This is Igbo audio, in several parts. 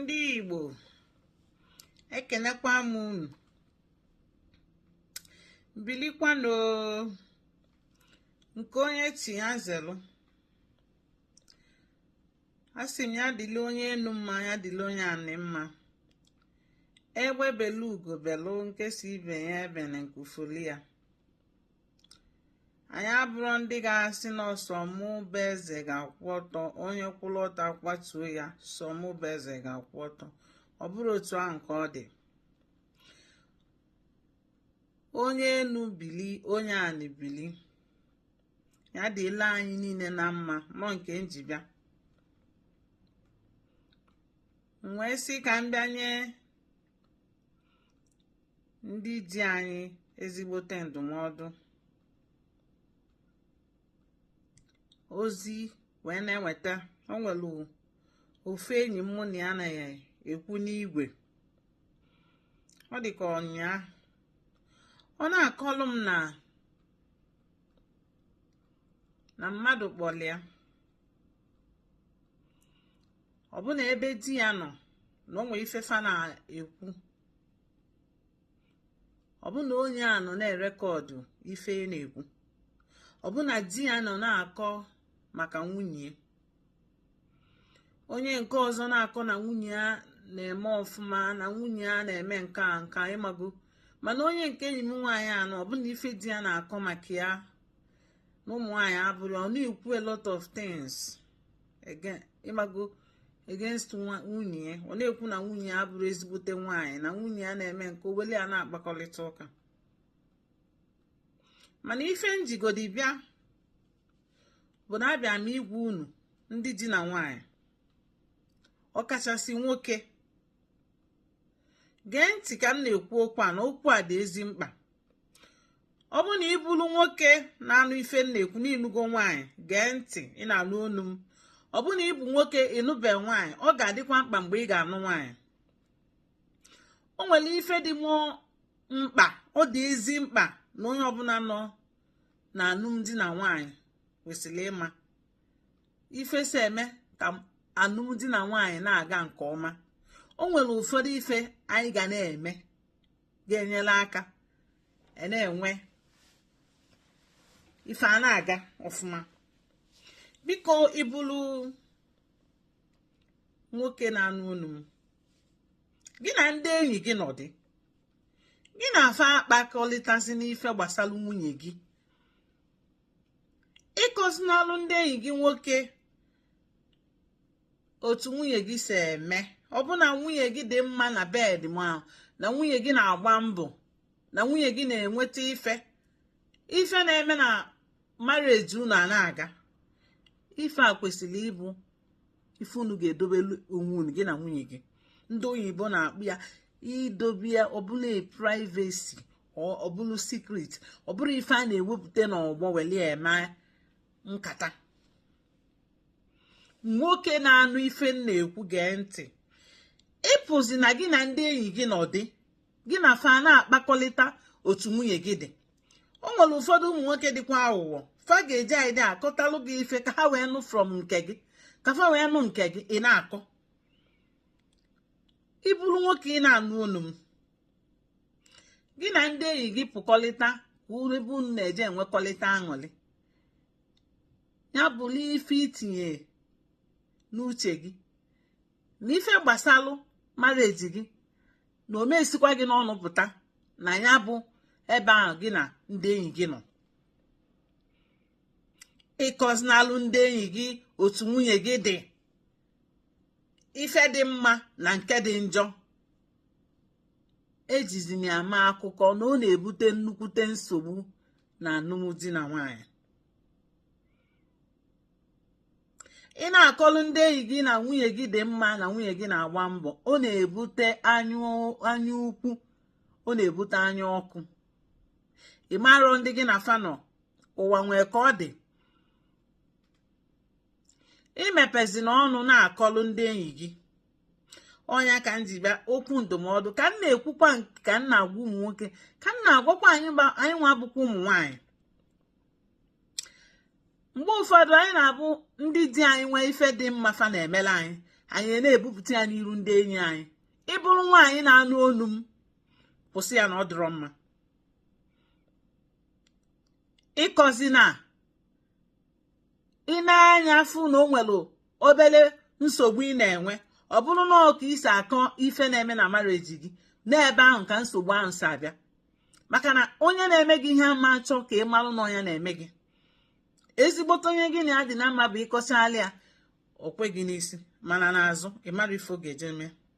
ndị Igbo ekenekwa m unu bilikwanụ nke onye chị ya zelu asị m ya dịlị onye enu mma ya dịlị onye anị mma egbe belu ugo belu nke sị ibe ya ebene nku foli ya anyị abụrụ ndị ga-asị na sọ mụ bụ eze ga-akwụ ọtọ onye kwụrụ ọtọ a kwatuo ya sọ mụ bụ eze ga-akwụ ọtọ ọ bụrụ otu ahụ ka ọ dị onye enu bili onye anị bili ya dịlị anyị niile na mma nọ nke m ji bịa m wee sị ka m bịa nye ndị di anyị ezigbote ndụmọdụ ozi wee na-enweta o nwere ofu enyi m mụ na ya na-ekwu n'igwe ọ dị ka ọ nyaa ọ na-akọlụ m na na mmadụ kpọlụ ya ọ bụ na ebe di ya nọ na o nwere ife fa na-ekwu ọ bụ na onye a nọ na-record ife na-ekwu ọ bụ na di ya nọ na-akọ maka nwunye onye nke ọzọ na-akọ na nwunye ya na-eme ọfụma na nwunye ya na-eme nke a nke ị mago mana onye nke enyi m nwaanyị a nọ ọ bụ na ife di ya na-akọ maka ya na ụmụ nwaanyị abụrụ ọ na-ekwu a lot of things ị mago against nwunye ya ọ na-ekwu na nwunye ya abụrụ ezigbote nwaanyị na nwunye ya na-eme nke a welụ ya na-akpakọrịta ụka mana ife m jigodi bịa bụ na abịa m ịgwa unu ndị di na nwaanyị ọkachasị nwoke gee ntị ka m na-ekwu okwu a na okwu a dị ezi mkpa ọ bụrụ na ị bụrụ nwoke na-anụ ife m na-ekwu na ị nụgo nwaanyị gee ntị ị na-anụ onu m ọ bụrụ na ị bụ nwoke ị nụbe nwaanyị ọ ga-adịkwa mkpa mgbe ị ga-anụ nwaanyị o nwere ife dị m mkpa ọ dị ezi mkpa na onye ọbụla nọ na alụmdi na nwaanyị kwesịrị ịma ife si eme ka alụmdi na nwaanyị na-aga nke ọma o nwere ụfọdụ ife anyị ga na-eme ga-enyere aka e na-enwe ife a na-aga ọfụma biko ị bụrụ nwoke na-anụ onu m gị na ndị enyi gị nọdị gị na fa akpakọrịtazina ife gbasara nwunye gị ị kọzinalụ ndị enyi gị nwoke otu nwunye gị si eme ọ bụ na nwunye gị dị mma na bed ma na nwunye gị na-agba mbọ na nwunye gị na-enweta ife ife na-eme na marriage unu a na-aga ife a kwesịrị ịbụ ife unu ga-edobe onwe unu gị na nwunye gị ndị oyibo na-akpọ ya idobe ya ọ bụlụ privacy ọ bụlụ secret ọ bụrọ ife a na-ewepụta n'ọgbọ welu eme nkata nwoke na-anụ ife m na-ekwu gee ntị ịpụzina gị na ndị enyi gị nọdụ gị na fa na-akpakọlịta otu nwunye gị dị o nwere ụfọdụ ụmụ nwoke dịkwa aghụghọ fa ga-eji idea akọtalụ gị ife ka ha wee nụ from nke gị ka fa wee nụ nke gị ị na-akọ ị bụrụ nwoke ị na-anụ olu m gị na ndị enyi gị pụkọlịta ka ebe unu na-eje enwekọlịta aṅụrị ya bụrụ ife i tinye n'uche gị na ife gbasalụ marriage gị na ọ ma esikwa gị n'ọnụ pụta na ya bụ ebe ahụ gị na ndị enyi gị nọ ịkọzinalụ ndị enyi gị otu nwunye gị dị ife dị mma na nke dị njọ ejizina ya ama akụkọ na ọ na-ebute nnukwute nsogbu na alụmdi na nwaanyị ị na-akọlụ ndị enyi gị na nwunye gị dị mma na nwunye gị na-agba mbọ ọ na-ebute anya ukwu ọ na-ebute anya ọkụ ị marọ ndị gị na fa nọ ụwa nwee ka ọ dị imepezina ọnụ na-akọlụ ndị enyi gị ọ nya ka m ji bịa okwu ndụmọdụ ka m na-ekwukwa ka m na-agwa ụmụ nwoke ka m na-agwakwa anyị nwa bụkwa ụmụ nwaanyị mgbe ụfọdụ anyị na-abụ ndị di anyị nwee ife dị mma fa na-emelu anyị anyị na-ebupụta ya n'iru ndị enyi anyị ị bụrụ nwaanyị na-anụ olu m kwụsị ya na ọ dịrọ mma ịkọzina i nee anya fụ na o nwere obere nsogbu ị na-enwe ọ bụrụ na ọ ka i si akọ ife na-eme na marriage gị n'ebe ahụ ka nsogbu ahụ si abịa maka na onye na-eme gị ihe ama achọ ka ị marụ na ọ nya na-eme gị ezigbote onye gị na ya dị na mma bụ ị kọchalụ ya o kwe gị n'isi mana n'azụ ị marọ ife ọ ga-eje mee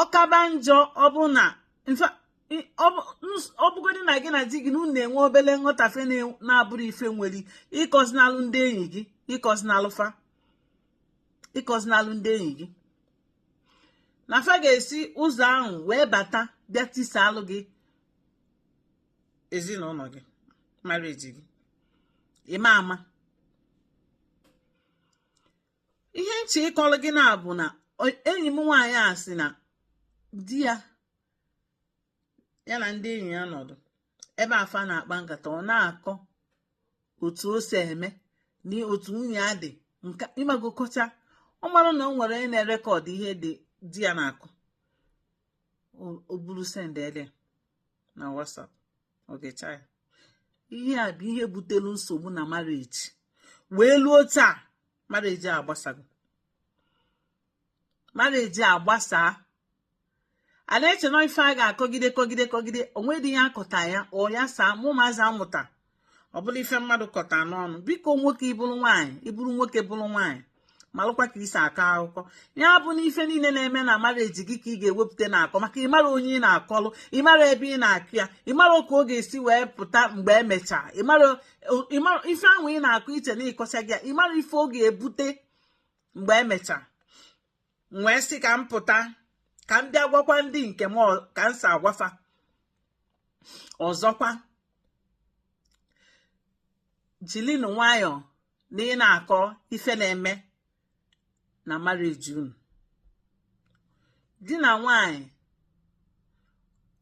ọ kaba njọ ọbụna ọ bụgodị na gị na di gị na unu na-enwe obere nghọtafe na-abụrọ ife nwere ịkọzinalụ ndị enyi gị ịkọzinalụ fa ịkọzinalụ ndị enyi gị na fa ga-esi ụzọ ahụ wee bata bịa tisalụ gị ezinụlọ gị marriage gị ị ma ama ihe m chọ ịkọrọ gị na-abụ na enyi m nwaanyị a sị na di ya ya na ndị enyi ya nọdụ ebe fa na-akpa nkata ọ na-akọ otu o si eme na otu nwunye ya dị nke ị mago kọchaa ọ marọ na o nwere onye na-erekọdụ ihe dị di ya na-akọ o buru sendede na WhatsApp o gechaa ya ihe a bụ ihe butelu nsogbu na marriage wee luo taa marriage a agbasago marriage a gbasaa a na-eche na ife a ga-akọgide kọgide kọgide o nwedị ihe a kọta ya ọ yasaa ma ụmụazị a mụta ọ bụlụ ife mmadụ kọta n'ọnụ biko nwoke ị bụrụ nwaanyị ị bụrụ nwoke bụrụ nwaanyị malụkwa ka i si akọ akụkọ ya bụ na ife niile na-eme na marriage gị ka ị ga-ewepụta na-akọ maka ị mara onye ị na-akọlụ ị mara ebe ị na-akọ ya ị mara ka ọ ga-esi wee pụta mgbe emechaa ị mara ife ahụ ị na-akọ i che na ị kọchaa gị ya ị mara ife ọ ga-ebute mgbe emechaa m wee sị ka m pụta ka m bịa gwakwa ndị nke m ka m si agwa fa ọzọkwa jilinu nwayọọ na ị na-akọ ife na-eme na marriage unu di na nwanyị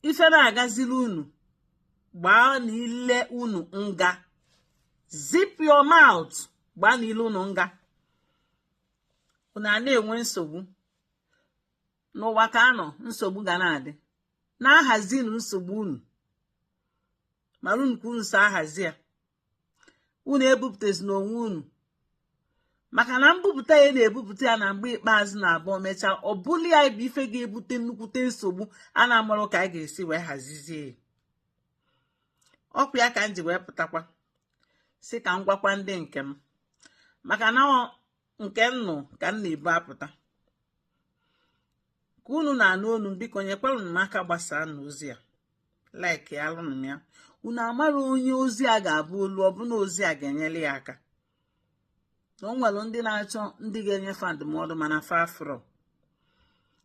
ife na-agaziri unu gbaanụ ile unu nga zip your mouth gbaanụ ile unu nga unu na-enwe nsogbu n'ụwa ka a nọ nsogbu ga na-adị na-ahazinụ nsogbu unu maranụ ka unu si ahazi ya unu ebupụtazina onwe unu maka na mbupụta ị na-ebupụta ya na mgbe ikpeazụ na-abụ mechaa ọ bụlụ ya bụ ife ga-ebute nnukwute nsogbu a na-amarọ ka a ga-esi wee hazizie ya ọ kwa ya ka m ji wee pụtakwa sị ka m gwakwa ndị nke m maka na ọ nke m nụ ka m na-ebu apụta ka unu na-anụ onu m biko nyekwarụnụ m aka gbasaanụ ozi a like alụnụ m ya unu amarọ onye ozi a ga-aba ulu ọ bụ na ozi a ga-enyere ya aka na o nwere ndị na-achọ ndị ga-enye fa ndụmọdụ mana fa afụrọ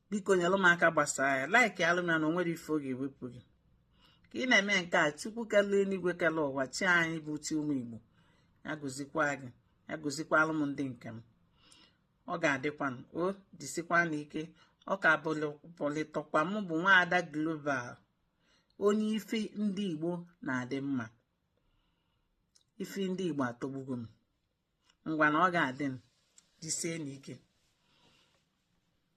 biko nyelụ m aka gbasaa ya like alụ m ya na o nwerọ ife ọ ga-ewepụ gị ka ị na-eme nke a chukwu kele eluigwe kele ụwa chi anyị bụ chi ụmụ igbo ya gozikwa gị ya gozikwalụ m ndị nke m ọ ga-adịkwa mma o jisikwanụ ike ọ ka bụlịtọkwa m bụ nwaada global onye ife ndị igbo na-adị mma ife ndị Igbo atọgbugo m ngwanụ ọ ga-adị mma jisienụ ike